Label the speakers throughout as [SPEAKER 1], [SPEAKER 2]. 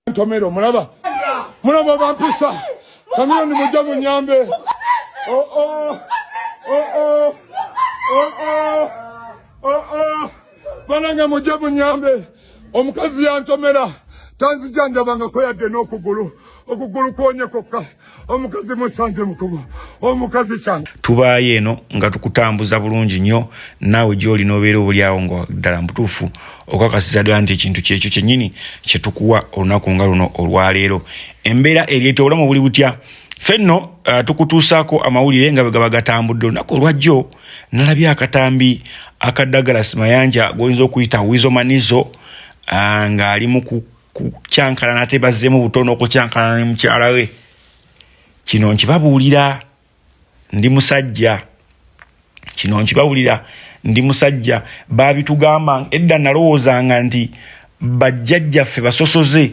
[SPEAKER 1] ntomera omulaba mulaba bampisa kamiyoni mujja munyambe oh, oh. Oh, banange mujja munyambe omukazi yantomera tanzijanjabangako yadde n'okugulu okugulu kwonye kokka omukazi musanze mukuba omukazi kyana tubaayo eno nga
[SPEAKER 2] tukutambuza bulungi nnyo naawe gyoli nobeera obulyawo nga ddala mbutuufu okakasiza ddala nti ekintu kyekyo kyennyini kyetukuwa olunaku nga luno olwaleero embeera eryeta obulamu buli butya fe nno uh, tukutuusaako amawulire nga bwe gaba gatambudde olunaku olwajjo nalabye akatambi akaddagala simayanja goyinza okuyita wizomanizo uh, ng'ali mu kukyankalana ate bazzemu butono okukyankalana ne mukyala we kino nkibabuulira ndi musajja kino nkibabuulira ndi musajja baabitugamba edda nalowoozanga nti bajjajjaffe basosoze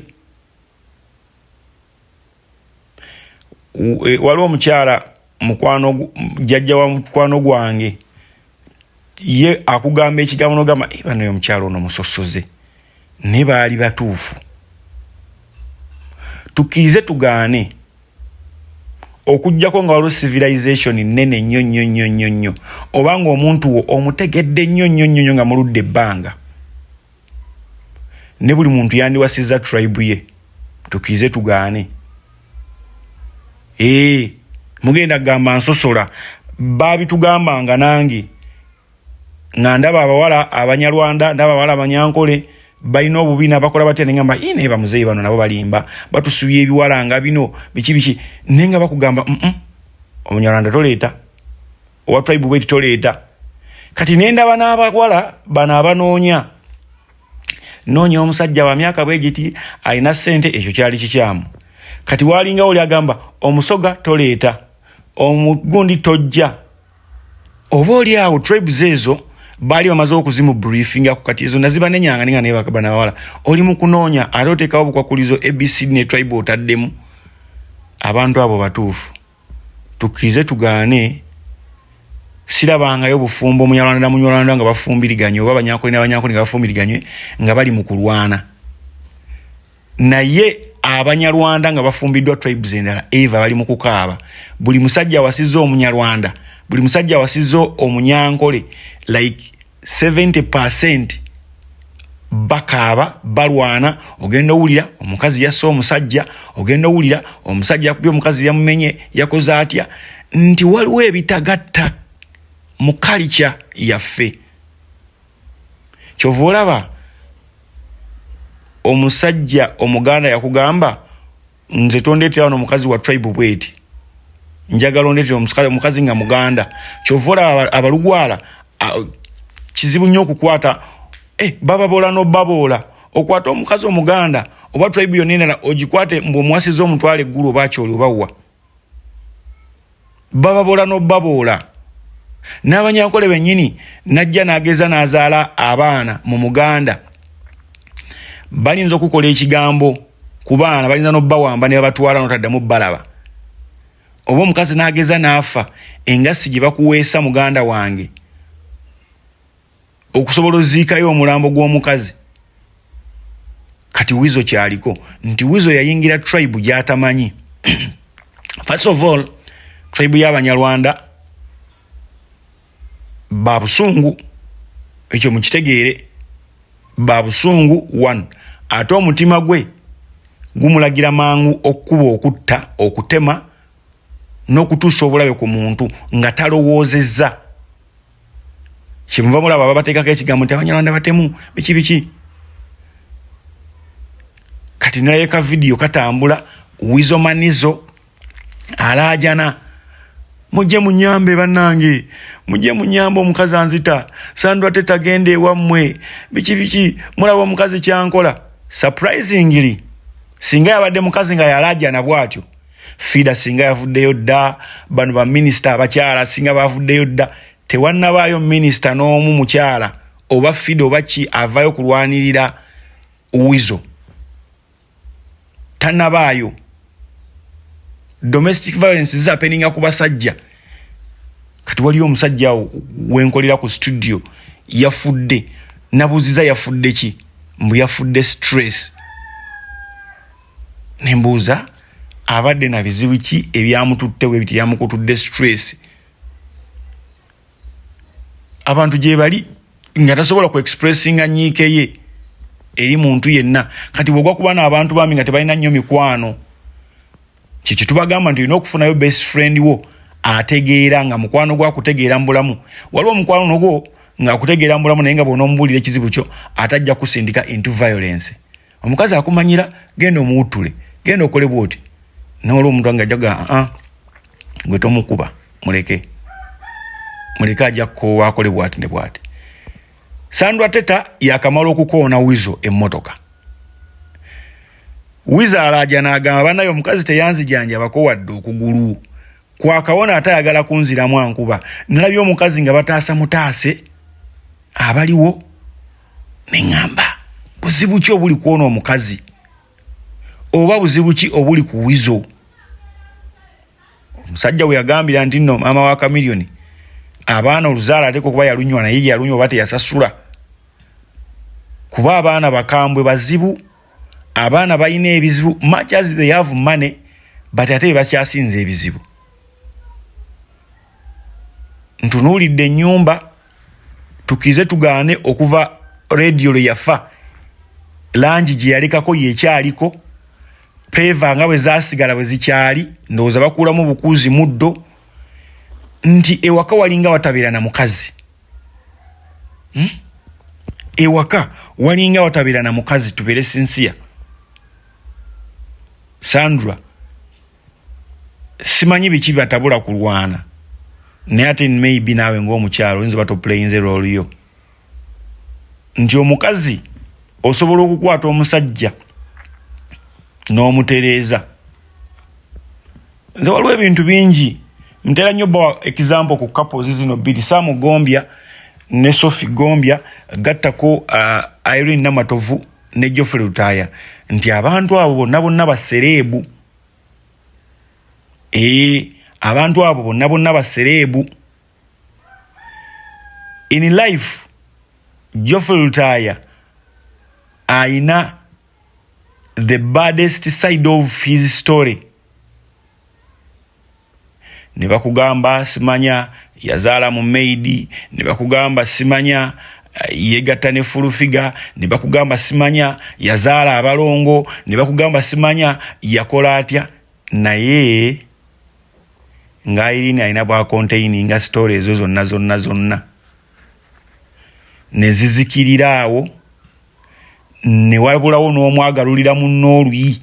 [SPEAKER 2] e, waliwo omukyala mukwano jajja wa mukwano gwange ye akugamba ekigambo nogamba eh, banaye omukyalo ono musosoze naye baali batuufu tukirize tugaane okugjako nga waliwo civilization nene nnyo nnyo nnyo nnyo nnyo oba nga omuntu wo omutegedde nnyo nnyo nnyo nnyo nga muludde ebbanga ne buli muntu yandiwasizza tribe ye tukize tugaane ee mugenda kugamba nsosola baabitugambanga nange nga ndaba abawala abanyarwanda ndaba abawala abanyankole balina obubi nabakola batya nengamba i naye bamuzeeyi bano nabo balimba batusubya ebiwala nga bino biki biki naye nga bakugamba mm omunyarwanda toleeta owa tribe bwe kitoleeta kati nendaba n'abawala bano abanoonya noonya omusajja wa myaka bwe giti alina ssente ekyo kyali kikyamu kati waalinga oli agamba omusoga toleeta omugundi tojja oba oli awo tribes ezo baali bamaze okuzimu briefinga ku kati ezo naziba nenyanga ninga naye bakabana bawala oli mu kunoonya ate oteekawo obukwakulizo abc ne tribe otaddemu abantu abo batuufu tukkirize tugaane sirabangayo bufumbo munyarwanda na munyarwanda nga bafumbiriganye oba abanyankole n'abanyankole nga bafumbiriganye nga bali mu kulwana naye abanyarwanda nga bafumbiddwa tribes endala eva bali mu kukaaba buli musajja awasizza omunyarwanda buli musajja awasizza omunyankole like 70 percent bakaaba balwana ogenda owulira omukazi yassa omusajja ogenda owulira omusajja yakubye omukazi yamumenye yakoze atya nti waliwo ebitagatta mu kalikya yaffe kyova olaba omusajja omuganda yakugamba nze tondetera wano mukazi wa tribe bweti njagala ondetera omukazi nga muganda kyova olaba abalugwala kizibu nnyo okukwata eh, bababoola nobaboola okwata omukazi omuganda oba tribe yonna endala ogikwate mbu omuwasiza omutwala eggulu oba akyoli obawa bababoola n'obaboola n'abanyankole bennyini najja n'ageza n'azaala abaana mu muganda balinza okukola ekigambo ku baana balinza n'obawamba ne babatwala n'otaddamu balaba oba omukazi n'ageza n'afa engassi gye bakuweesa muganda wange okusobola oziikayo omulambo gw'omukazi kati wizo kyaliko nti wizo yayingira tribe gyatamanyi first of all tribe y'abanyarwanda babusungu ekyo mukitegeere babusungu one ate omutima gwe gumulagira mangu okukuba okutta okutema n'okutuusa obulabe ku muntu nga talowoozezza kyemuva mulaba babateekako ekigambo nti abanyarwanda batemu biki biki kati nalayo ka vidiyo katambula wizomanizo alaajana mujje munyambe bannange mujje munyambe omukazi anzita sandwa te tagenda ewammwe biki biki mulaba omukazi kyankola surprisingly singa yabadde mukazi nga yalaajana bwatyo fida singa yavuddeyo dda bano baminisita abakyala singa bavuddeyo dda tewannabaayo minisita n'omu mukyala oba fida oba ki avayo kulwanirira wizo tanabaayo domestic violence zizapeninga ku basajja kati waliyo omusajja wenkolera ku studio yafudde nabuziza yafudde ki mbu yafudde stress ne mbuuza abadde na bizibu ki ebyamututte we biti byamukutudde stress abantu gyebali nga tasobola ku expressinga nyiike ye eri muntu yenna kati bwogwa kuba naabantu bambi nga tebalina nnyo mikwano kyekyo tubagamba nti olina okufunayo best friend wo ategeera nga mukwano gwo akutegeera mu bulamu waliwo omukwano nogwo ngaakutegeera mu bulamu naye nga bwonaomubuulira ekizibu kyo atajja kusindika into violence omukazi akumanyira genda omuwuttule genda okole bwoti noolwa omuntu ange ajaga aa ah, ah, gwe tomukuba muleke muleke ajja kukoowa akole bwati ne bwati sandra teta yakamala okukoona wizo emmotoka wizo alaaja n'agamba banaye omukazi teyanzijanjabako wadde okugulu kwakawona ate ayagala kunziramu ankuba nalabye omukazi nga bataasa mutaase abaliwo neŋamba buzibu ki obuli kwona omukazi oba buzibu ki obuli ku wizo omusajja weyagambira nti no maama wa kamiliyoni abaana oluzaala ateka okuba yalunywa naye yalunywa oba teyasasula kuba abaana bakambwe bazibu abaana balina ebizibu much as they have money but ate bebakyasinza ebizibu ntunuulidde ennyumba tukize tugaane okuva rediyo lwe yafa langi gye yalekako yekyaliko peeva nga bwe zasigala bwe zikyali ndowooza bakuulamu bukuuzi muddo nti ewaka walinga watabeera na mukazi hmm? ewaka walinga watabeera na mukazi tubeere sinsiya sandra simanyi biki batabula kulwana naye ate maybe naawe ngaomukyalo oyinza oba toplayinze loliyo nti omukazi osobola okukwata omusajja n'omutereeza nze waliwo ebintu bingi ntera nnyo bawa example ku couples zino bbiri samu gombya ne sofi gombya gattako uh, irene namatovu ne jofrey lutaaya nti abantu abo bonna bonna basereebu ee abantu abo bonna bonna basereebu in life jofrey lutaaya ayina the baddest side of his story ne bakugamba simanya yazaala mu maidi ne bakugamba simanya eh, yegatta ne fulufiga ne bakugamba simanya yazaala abalongo ne bakugamba simanya yakola atya naye ng'ayirini alina bwa konteininga sitoola ezo zonna zonna zonna ne zizikirira awo ne wabulawo n'omwagalulira mu nooluyi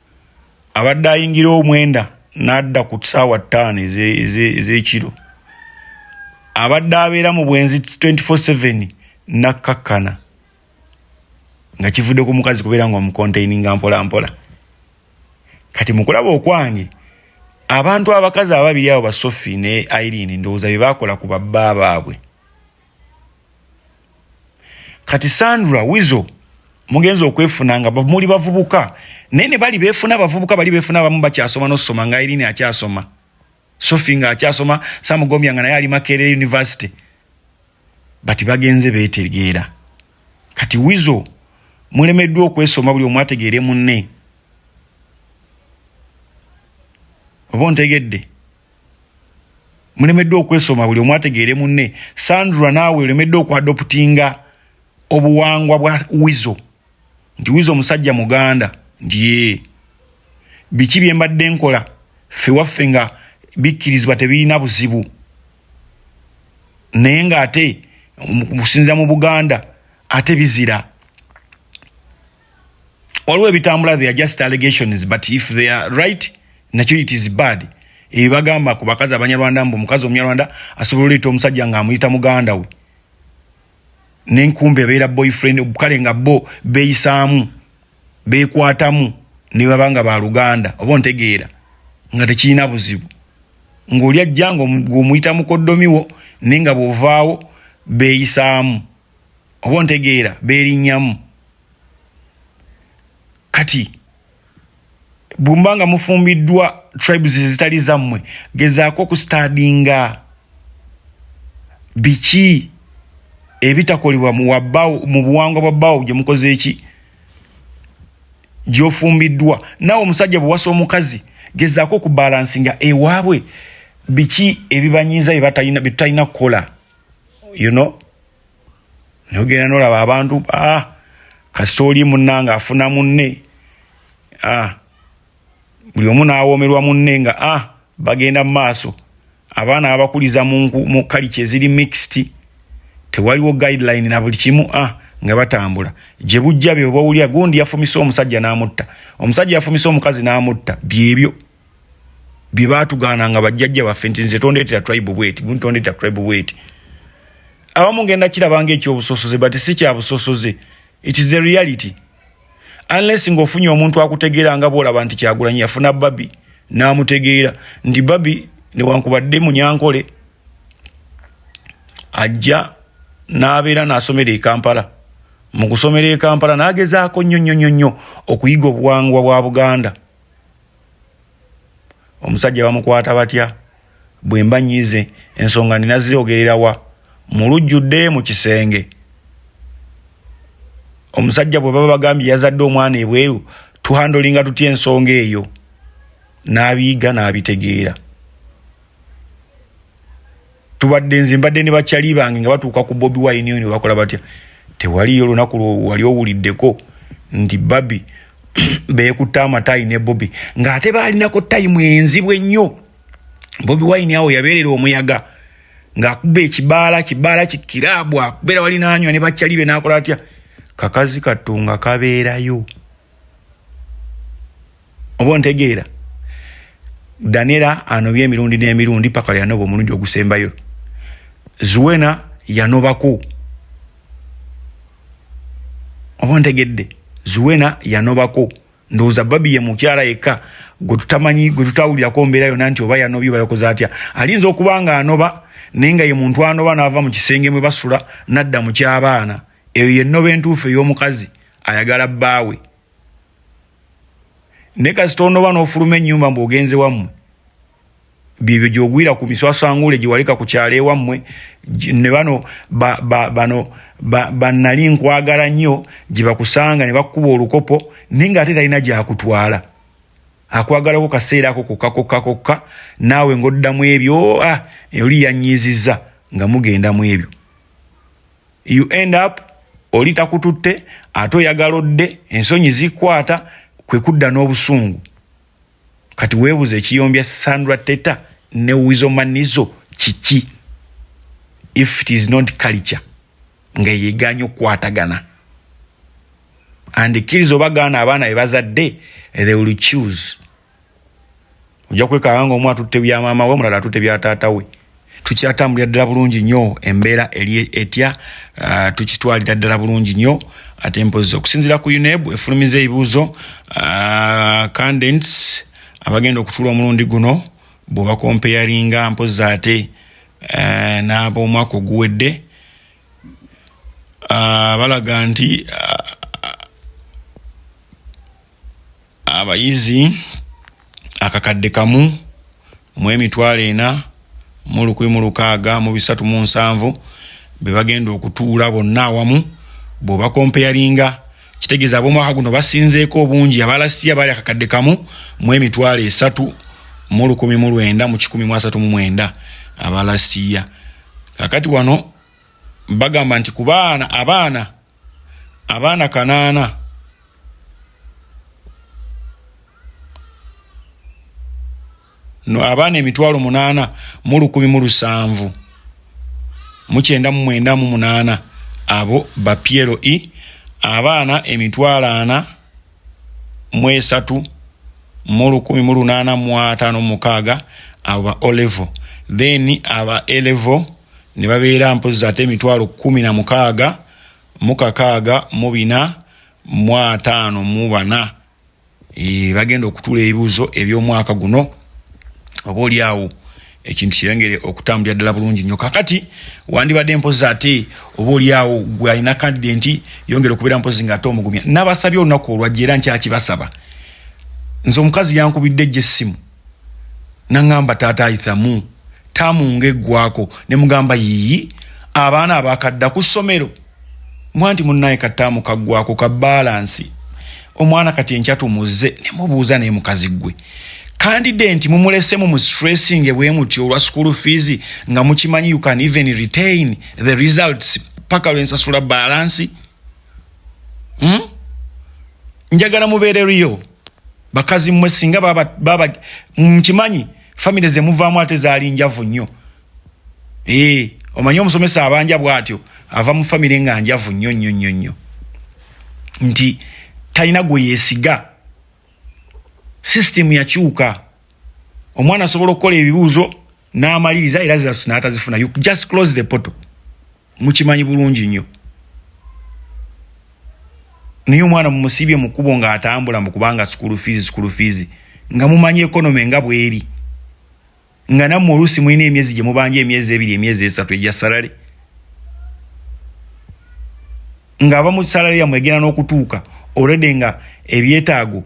[SPEAKER 2] abadde ayingira omwenda n'adda ku ssaawa ttaano ez'ekiro abadde abeera mu bwenzi 24/7 nakkakkana nga kivudde ku mukazi kubeera nga omukontaininga mpolampola kati mukulaba okwange abantu abakazi ababiri abo basofi ne irene ndowooza bye baakola ku babba baabwe kati sandra wizo mugenza okwefuna nga muli bavubuka naye ne bali befuna abavubuka bali befuna abamu bakyasoma nosoma nga irini akyasoma sofi nga akyasoma samugombya nga naye ali makerere university bati bagenze betegeera kati wizo mulemeddwa okwesoma buli omu ategeere munne oba ontegedde mulemeddwa okwesoma buli omu ategeere munne sandra naawe olemeddwa okwadoputinga obuwangwa bwa wizo nti wizo omusajja muganda nti yee biki bye mbadde nkola ffe waffe nga bikkirizibwa tebirina buzibu naye ng'ate kusinzira mu buganda ate bizira waliwo ebitambula they are just allegations but if they are right nakyo it is bad ebibagamba ku bakazi abanyarwanda mbu omukazi omunyarwanda asobola oleeta omusajja nga amuyita muganda we nenkumba ebeera boyfriend kale nga bo beyisaamu bekwatamu nebaba nga baluganda oba ontegeera nga tekirina buzibu ngaoli ajja ngaomuyita mukoddomiwo naye nga bwovaawo beyisaamu oba ontegeera beerinnyamu kati bumba nga mufumbiddwa tribes ezitali zammwe gezaako okustadinga biki ebitakolebwa muwabawo mu buwangwa bwa bawo gye mukoze eki gyofumbiddwa naawe omusajja bwewasa omukazi gezaako okubalansinga ewaabwe biki ebibanyiiza byetutalina kukola you know nogenda nolaba abantu ah, kasita oli munange afuna munne ah, buli omu nawomerwa munne nga ah, bagenda mu maaso abaana abakuliza mu kaliki eziri mixed tewaliwo guideline na buli kimu ah, nga batambula gye bujja bye bawulira gundi yafumise omusajja n'amutta omusajja yafumise omukazi n'amutta byebyo bye baatugaana nga bajjajja baffe nti nze tondeetera tribe bweti gundi tondeetera tribe bweti abamu ngenda kiraba nga ekyobusosoze but si kya busosoze it is the reality unless ng'ofunye omuntu akutegeera nga bwolaba nti kyagulanyi yafuna babi n'amutegeera nti babi newankubadde munyankole ajja n'abeera n'asomera e kampala mu kusomera e kampala n'agezaako nnyo nnyo nnyo nnyo okuyiga obuwangwa bwa buganda omusajja bamukwata batya bwemba nyize ensonga nina ziogererawa mulujjudde mu kisenge omusajja bwe baba bagambye yazadde omwana ebweru tuhandolinga tutya ensonga eyo n'abiyiga n'abitegeera tubadde nze mbadde ne bakyali bange nga batuuka ku bobi wine oyo bakola batya tewaliyo olunaku lwewali owuliddeko nti babi beekutte amataayi ne bobi ng'ate baalinako tayimu enzibu ennyo bobi wine awo yabeerera omuyaga ng'akuba ekibaala kibaala kikiraabu akubeera wali naanywa ne bakyali be n'akola atya kakazi kattu nga kabeerayo oba ontegeera danera anobye emirundi n'emirundi paka yanoba omulundi ogusembayo zuwena yanobako oba ontegedde zuwena yanobako ndowooza babi ye mukyala yekka gwe tutamanyi gwe tutawulirako mbeera yona nti oba yanobye oba yakoze atya ayinza okuba nga anoba naye nga ye muntu anoba n'ava mu kisenge mwe basula n'adda mu ky'abaana eyo yennoba entuufu ey'omukazi ayagala bbaawe ne kasita onoba n'ofuluma ennyumba mbu ogenze wammwe byebyo gyogwira ku miswasanguule gyewaleka ku kyalo ewammwe ne bano bano banali nkwagala nnyo gye bakusanga ne bakukuba olukopo naye nga ate talina gyakutwala akwagalako kaseera ako kokka kokka kokka naawe ng'oddamu ebyo ah, oli yanyiizizza nga mugenda mu ebyo you end up oli takututte ate oyagala odde ensonyi zikwata kwe kudda n'obusungu kati weebuza ekiyombya sandra teta ne wizomanizo kiki if it is not culture nga yeganya okukwatagana and kiriza obagaana abaana bebazadde they will choose ojja kwekanga nga omu atutte bya maama we omulala atutte bya taata we tukyatambulira ddala bulungi nnyo embeera eri etya uh, tukitwalira ddala bulungi nnyo ate mpozi okusinzira ku uneb efulumiza ebibuuzo uh, candents abagenda okutuula omulundi guno bwebakompeyaringa mpozi ate uh, n'abomwaka oguwedde balaga nti abayizi akakadde kamu mu emitwalo ena mu lukumi mu lukaaga mu bisatu mu nsanvu be bagenda okutuula bonna awamu bw'obakompeyalinga kitegeeza ab'omwaka guno basinzeeko obungi abalasiya baali akakadde kamu mu emitwalo esatu mu lukumi mu lwenda mu kikumi mu asatu mu mwenda abalasiya kakati wano bagamba nti ku baana abaana abaana kanaana no abaana emitwalo munaana mu lukumi mu lusanvu mukyenda mu mwenda mu munaana abo ba piero i e, abaana emitwalo ana mu esatu mu lukumi mu lunaana mu ataano mukaaga abo ba olevo then aba elevo ne babeera mpozzi ate emitwalo kkumi na mukaaga mu kakaaga mu bina mu ataano mu bana eh, bagenda okutula ebibuuzo eby'omwaka guno oba oli awo ekintu kiyongere okutambulira ddala bulungi nnyo kakati wandibadde mpozi ate oba oliawo gwe alina kandide nti yongere okubeera mpozi nga ate omugumya nabasabye olunaku olwajja era nkyakibasaba nze omukazi yankubidde ejjo essimu nangamba taata ayithamu tamu nga eggwako ne mugamba yiyi abaana abakadda ku ssomero mbwa nti munnaye kataamu kaggwako ka baalansi omwana kati enkya tumuzze ne mubuuza naye mukazi ggwe kandidenti mumulesemu mu stressinge bwe mutyo olwa school fees nga mukimanyi you can even retain the results paka lwe nsasula baalansi hmm? njagala mubeere riyo bakazi mwe singa baba baba mkimanyi family ze muvamu ate zali njavu nyo eh omanyi omusomesa abanja bwatyo ava mu family nga njavu nyo nyo nyo nyo nti talina gwe yesiga system yakyuka omwana asobola okukola ebibuuzo n'amaliriza era zirasuna atazifuna you just close the portal mukimanyi bulungi nnyo naye omwana mumusibye mu kkubo ng'atambula mu kubanga sukulu fiizi sukulu fiizi nga mumanyi ekonome nga bweri nga nammwe oluusi mulina emyezi gye mubanja emyezi ebiri emyezi esatu egya salale ng'abamu salale yammwe egenda n'okutuuka olwedde nga ebyetaago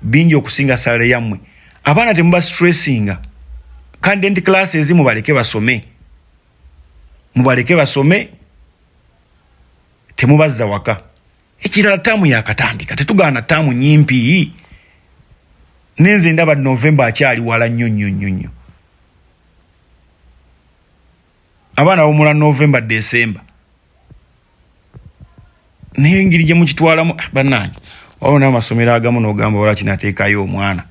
[SPEAKER 2] bingi okusinga salale yammwe abaana temuba stressinga kandenti class ezimu baleke basome mubaleke basome temubazza waka ekirala taamu yakatandika tetugaana taamu nyimpi nenze ndaba novemba akyali wala nnyo nnyo nnyo nnyo abaana bawumula novemba desemba naye engeri gye mukitwalamu ah, bannange waliwo n'amasomero agamu n'ogamba wala kinateekayo omwana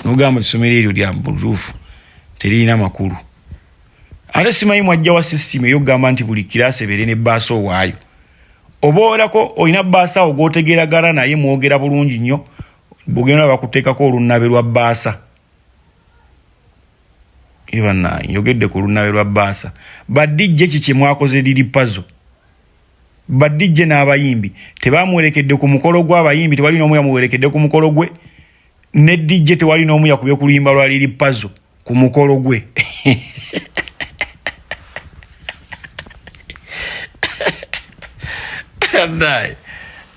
[SPEAKER 2] n'ogamba essomero eryo lya butuufu teririna makulu ate simanyi mwajja wa sisitimu eyokugamba nti buli kiraasi ebeere ne baasa owaayo oba olako olina baasa awo gwotegeeragana naye mwogera bulungi nnyo bugenda bakuteekako olunnabe lwa baasa ebana yogedde ku lunawe lwa baasa badijje ki kyemwakoze liri pazo badijje n'abayimbi tebamuwerekedde ku mukolo gwe abayimbi tewali n'omu yamuwerekedde ku mukolo gwe ne dijje tewali n'omu yakubye ku luyimba lwa liri pazo ku mukolo gwe naye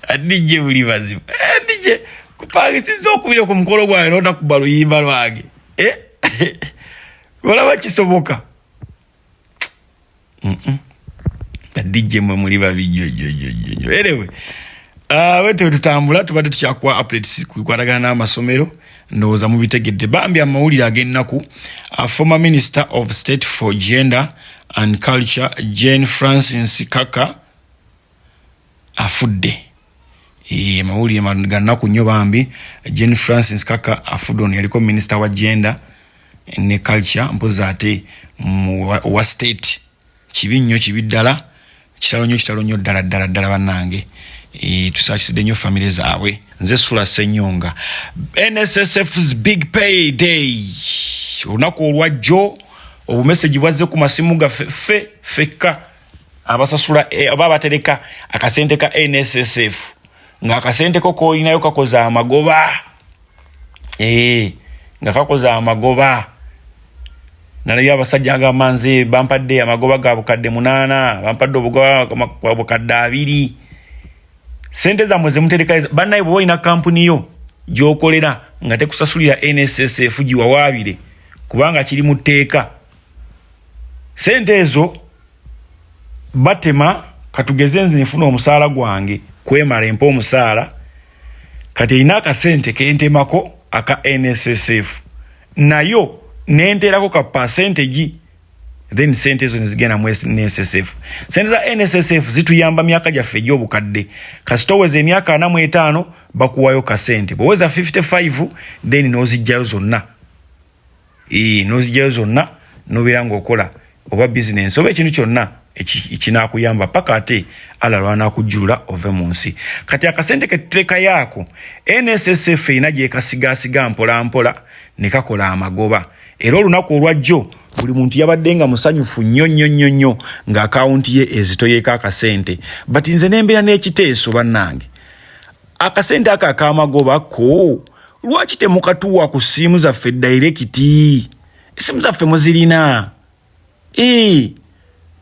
[SPEAKER 2] adijje buli bazibu adijje eh, kupangisiza okubira ku mukolo gwange notakuba luyimba lwange eh? olaba kisoboka dj mwe muli babijojojojjo erewe ah, wete wetutambula tubadde tukyakuwa updates kukwatagana n'amasomero ndowooza mubitegedde bambi amawulire ag'ennaku ah, former minister of state for gender and culture jane francis kaka afudde amawulire ga nnaku nnyo bambi jane francis kaka afudon yaliko minisita wa genda ne culture mpozi ate wa state kibi nnyo kibi ddala kitalo nnyo kitalo nnyo ddala ddala ddala bannange Eh, tusakisidde nnyo famire zaabwe nze sula senyonga nssfs big pay day olunaku olwajjo obumesegi bwazze ku masimu gaffe ffe fekka abasasula eh, oba abatereka akasente ka nssf nga akasente ko kolinayo kakoze amagoba eh, nga kakoze amagoba nalayo abasajja agamba nze bampadde amagoba ga bukadde munaana bampadde obugoba bukadde abiri sente zamwe zemutereka banaye bwoba olina kampuni yo gyokolera nga tekusasulira nssf giwawaabire kubanga kiri mu tteeka sente ezo batema katugeze nze nfuna omusaala gwange kwemala empa omusaala kati erina akasente kentemako aka nssf nayo nenterako ka pasentegi then sente ezo nezigenda mu nssf sente za nssf zituyamba myaka gyaffe egyobukadde kasita oweza emyaka ana mu etaano bakuwayo kasente bweweza 55 then nozijjayo zonna nozijayo zonna nobeera ngaokola oba bizinensi oba ekintu kyonna ekinakuyamba paka ate ala lwanakujjulula ove mu nsi kati akasente ketutekayo ako nssf erina gyekasigasiga mpolampola nekakola amagoba era olunaku olwajjo buli muntu yabadde nga musanyufu nnyo nnyo nnyo nnyo nga akawunti ye ezitoyeko akasente but nze nembeera n'ekiteeso bannange akasente ako akamagoba ko lwaki temukatuwa ku siimu zaffe dairekiti esimu zaffe muzirina e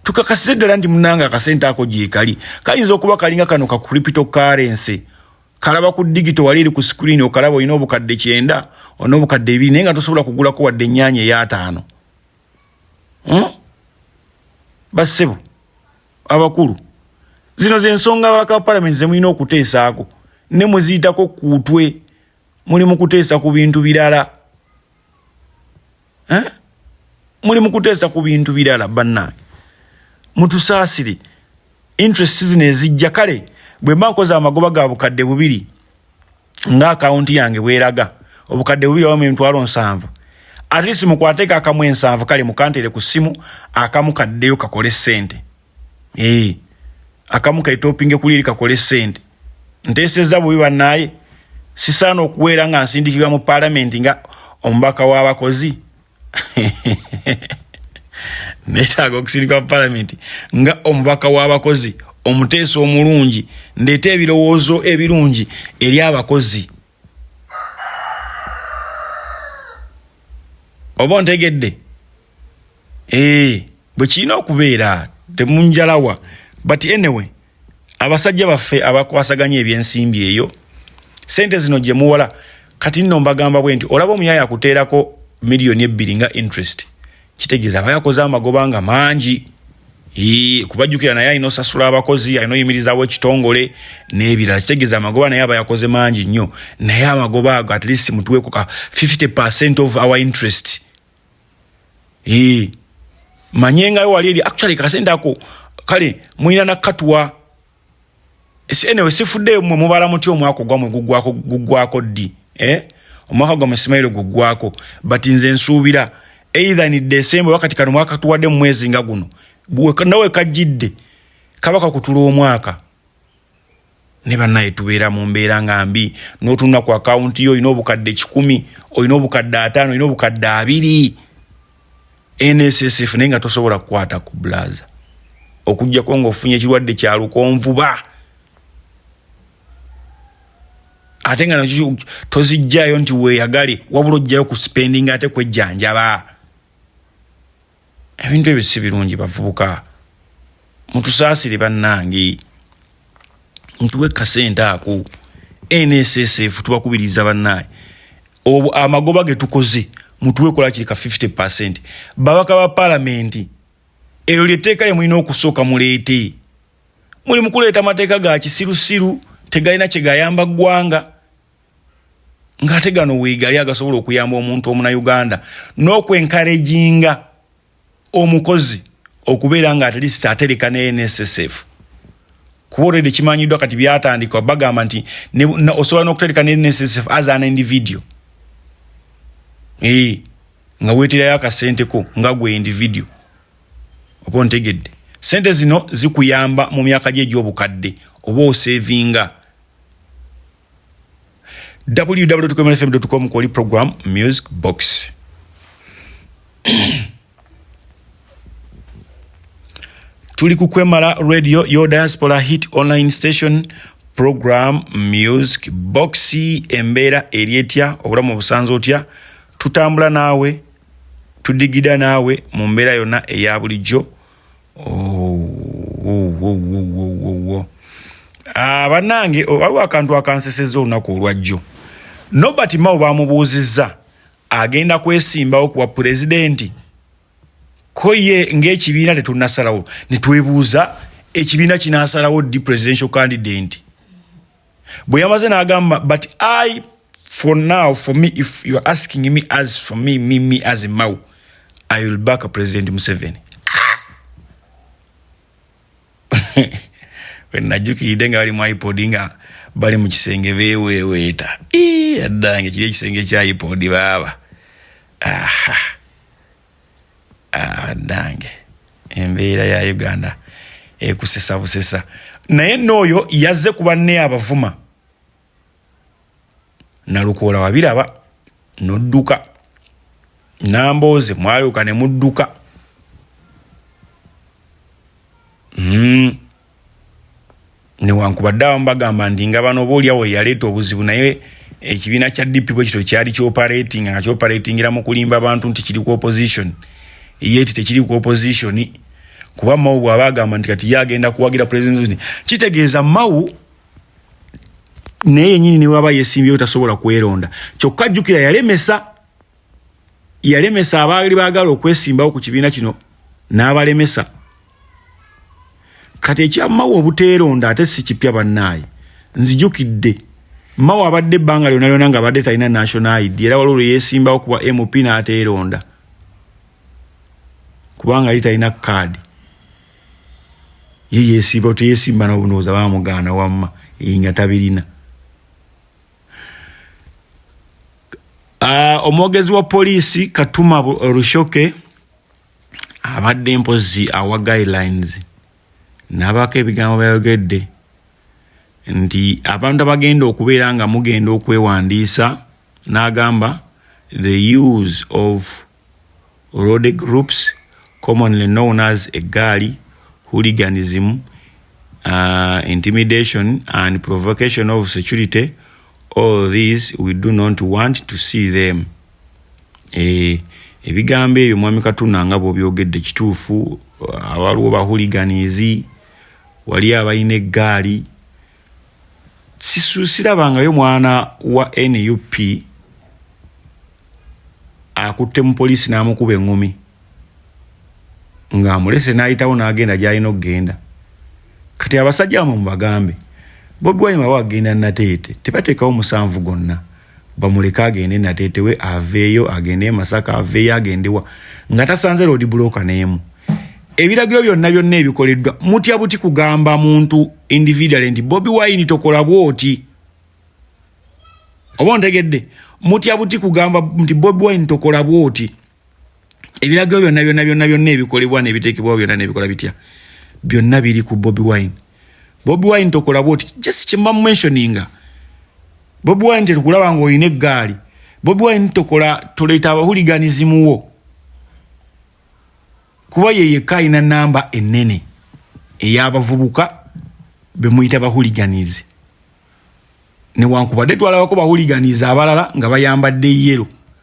[SPEAKER 2] tukakasize ddala nti munanga akasente ako gyekali kayinza okuba kalinga kano ka cripto currency kalaba ku digito wali eri ku screen okalaba olina obukadde kyenda olina obukadde ebiri naye nga tosobola kugulako wadde ennyanya eyataano hmm? bassebo abakulu zino zensonga ababaka ba palamenti zemulina okuteesaako ne muziyitako kuutwe muli mukuteesa ku bintu birala eh? muli mukuteesa ku bintu birala bannange mutusaasire interest zino ezijja kale bwe mba nkoze amagoba ga bukadde bubiri nga akawunti yange bweraga obukadde bubiri wamu emitwalo nsanvu at least mukwateeko akamu ensanvu kale mukantere ku ssimu akamu kaddeyo kakole ssente ee eh, akamu kaitopinge kuli eri kakole ssente nteesezza bubi bannaaye sisaana okuweera nga nsindikibwa mu palamenti nga omubaka w'abakozi neetaaga okusirika mu palamenti nga omubaka w'abakozi omuteesa omulungi ndeeta ebirowoozo ebirungi eri abakozi oba ontegedde ee eh, bwe kirina okubeera temunjalawa but anyway abasajja baffe abakwasaganya ebyensimbi eyo sente zino gye muwola kati nno mbagamba bwe nti olaba omuyaya akuteerako miliyoni ebbiri nga interest kitegeeza aba yakoze amagoba nga mangi kubajjukira naye alina osasula abakozi alina oyimirizawo ekitongole n'ebirala kitegeeza amagoba naye aba yakoze mangi nnyo naye amagoba ago at least mutuweko ka 50 percent of our interest ee manye ngayo wali eri actually kasente ako kale mulina nakatuwa enewe sifudde mwe mubala muti omwaka ogwamwe gugwako gugwako ddi eh? omwaka gwamwe simaire gugwako but nze nsuubira either ni desemba wakati kano mwaka tuwadde mu mwezi nga guno nawe kajjidde kaba kakutula omwaka ne banaye tubeera mu mbeera nga mbi notunula ku akawunti yo olina obukadde kikumi olina obukadde ataano olina obukadde abiri nssf naye nga tosobola kukwata ku bulaza okujjako ngaofunye ekirwadde kya lukonvuba ate nga nakyo tozijjayo nti weeyagale wabula ojjayo ku spending ate kwejjanjaba ebintu ebyo si birungi bavubuka mutusaasire bannange mutuwe kasente ako nssf tubakubiriza bannange amagoba ge tukoze mutuwe kola kiri ka 50 percent babaka ba palamenti eryo lyetteeka lye mulina okusooka muleete muli mukuleeta amateeka ga kisirusiru tegalina kyegayamba ggwanga ng'ate gano weegali agasobola okuyamba omuntu omunauganda n'okwenkareginga omukozi okubeera nga atleast atereka ne nssf kuba olwedde kimanyiddwa kati byatandika bagamba nti osobola n'okutereka ne nssf as an individio ee eh, nga weeterayo akasente ko nga gwe individio oba ontegedde sente zino zikuyamba mu myaka gye egy'obukadde oba osevinga www.komerfm.com kwoli program music box tuli ku kwemala radio yo diaspora hit online station program music box embeera eri etya obulamu obusanza otya tutambula naawe tudigida naawe mu mbeera yonna eya bulijjo Ah, banange oh, waliwo akantu akanseseza olunaku olwajjo nobert mao bamubuuzizza agenda kwesimbawo kuwa pulezidenti ko ye ngaekibiina tetunasalawo netwebuuza ekibiina kinasalawo di presidential candidate bwe yamaze n'agamba but i for now for me if youare asking me as for me me me as mau i will back a president museveni wenajukiridde nga bali mu ipod nga bali mu kisenge beweweeta addange kiri ekisenge kya ipod baaba aha banange ah, embeera ya uganda ekusesa busesa naye nooyo yazze ku banne abavuma nalukoola wabiraba nodduka nambooze mwalyoka ne mudduka mm. newankubadde abamu bagamba nti nga bano obaolyawo yaleeta obuzibu naye ekibiina kya dp bwe kityo kyali kioperatinga nga kioperatingira mu kulimba abantu nti kiri ku opposition yeti tekiri ku opposition kuba mawu bwaba agamba nti kati ye agenda kuwagira president kitegeeza mawu naye yenyini newaba yesimbyewo tasobola kweronda kyokka jjukira yalemesa yalemesa abaali baagala okwesimbawo ku kibiina kino n'abalemesa kati ekya mawa obuteeronda ate si kipya bannaayi nzijukidde mawa abadde ebbanga lyona lyona nga abadde talina national id era waliwo lwe yeesimbawo kuba mp n'ateeronda kubanga yali talina kaadi ye yeesimbawo teyeesimba nobunooza bamugaana wamma eyi nga tabirina ah, omwogezi wa poliisi katuma rushoke abadde mpozi awa guidelines nabaako ebigambo byayogedde nti abantu abagenda okubeera nga mugenda okwewandiisa n'agamba the use of road groups commonly known as eggaali hooliganism uh, intimidation and provocation of security all these we do not want to see them eh, ebigambo ebyo mwami katuna nga bwobyogedde kituufu awaliwo bahuliganizi wali abalina eggaali sirabangayo mwana wa nup akutte mu poliisi n'amukuba eŋŋumi ng'amulese n'ayitawo n'agenda gy'alina okugenda kati abasajja bamwe mubagambe bobi wine waba agenda nateete tebateekawo musanvu gonna bamuleke agende natetewe aveeyo agende masaka aveeyo agendewa nga tasanze lodi buloka neemu ebiragiro byonna byonna ebikoleddwa mutya buti kugamba muntu individual nti bobi wine tokola bwoti oba ontegedde mutya buti kugamba nti bobi wine tokola bwoti ebiragiro byonna byonna byonna byonna ebikolebwa nebiteekebwawo byonna nebikola bitya byonna biri ku bobi wine bobi wine tokolabwa oti just kyemba mumentioninga bobi wine tetukulaba nga olina eggaali bobi wine tokola tuleeta abahuliganizimuwo kuba yeyekka alina namba enene eyabavubuka bemuyita bahuliganizi newankubadde twalabako bahuliganizi abalala nga bayambadde yero